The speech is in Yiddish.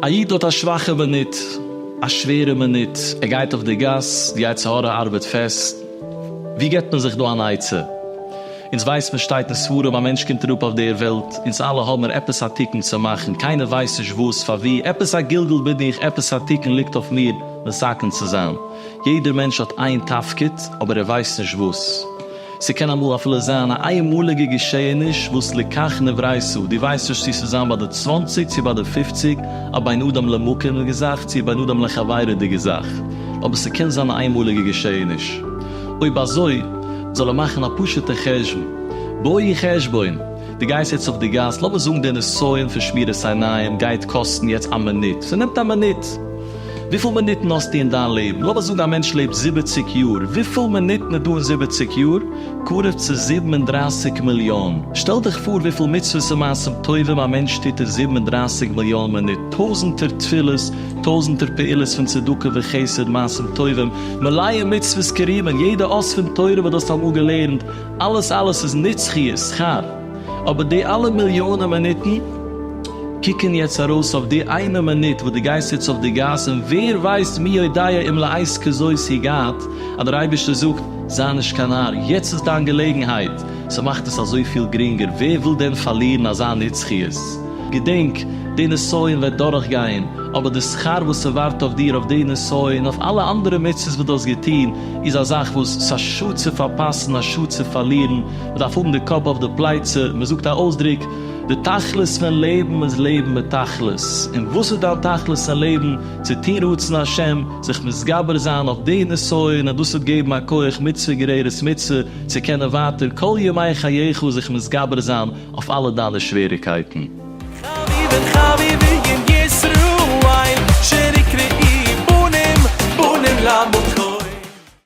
א איד האט א שוואכע מינוט, א שווערע מינוט, ער גייט אויף די גאס, די יצר הרע ארבעט פעסט, ווי געבט מען זיך דא אן עצה? אונז ווייסט מען שטייט אין ספרים א מענטש קומט אראפ אויף דער וועלט, אונז אלע האבן מיר עפעס א תיקון צו מאכן, קיינער ווייסט נישט וואס, פארווי, עפעס א גלגול בין איך, עפעס א תיקון ליגט אויף מיר מסכם צו זיין. יעדער מענטש האט איין תפקיד אבער ער ווייסט נישט וואס. ס'קען אמאל אפילו זיין א איינמאליגע געשעהעניש וואס לקח נברייתו, דו ווייסט נישט צו ס'איז זיין ביי די צוואנציג צו ביי די פופציג, א בין אדם למקום'דיגע זאך צו א בין אדם לחברי'דיגע זאך, אבער ס'קען זיין א איינמאליגע געשעהעניש. אויב אזוי, זאל ער מאכן א פשוטע חשבון. בואי חשבון! דו גייסט יעצט אויף די גאס, לאמיר זאגן די נסיון פון שמירת עיניים גייט קאסטן יעצט א מינוט. ס'נעמט א מינוט. וויפיל מינוטן האסטו אין דיין לעבן? לאמיר זאגן א מענטש לעבט זיבעציק יאר, וויפיל מינוטן איז דא אין זיבעציק יאר? קרוב צו זיבן און דרייסיג מיליאן. שטעל דיך פאר וויפיל מצוות און מעשים טובים א מענטש טוט אין זיבן און דרייסיג מיליאן מינוט, טויזנטער תפילות, טויזנטער פעולות פון צדקה וחסד, מעשים טובים, מלאים מצוות כרימון, יעדע אות פון תורה וואס דו האסט אמאל געלערנט, אלעס אלעס איז נצחיות, שכר. אבער די אלע מיליאנען מינוטן קוקן יעצט ארויס אויף די איינע מינוט וואס דו גייסט יעצט אויף די גאס און ווער ווייסט מי יודע אם לעת כזאת הגעת אז דער אייבערשטער זאגט זיי נישט קיין נאר יעצט איז דיין געלעגנהייט ס'מאכט עס אזויפיל גרינגער ווער וויל דען פארלירן אזא נצחיות געדענק די נסיון וועט דורכגיין אבער די שכר וואס ס'ווארט אויף דיר אויף די נסיון אויף אלע אנדערע מצוות וואס דו האסט געטון איז א זאך וואס ס'איז א שאד צו פארפאסן א שאד צו פארלירן מ'דארף האבן די קאפ אויף די פלייצע, מ'זאגט א אויסדרוק, די תכלית פון לעבן איז לעבן מיט תכלית, און וואס איז דיין תכלית אין לעבן? צו טון רצון השם, זיך מתגבר זיין אויף די נסיון, און דאס וועט געבן א כח מצוה גוררת מצוה, צו קענען ווייטער כל ימי חייך זיך מתגבר זיין אויף אלע דיינע שוועריקייטן. חביבין חביבין ישראל שנקראים בנים בנים למקום.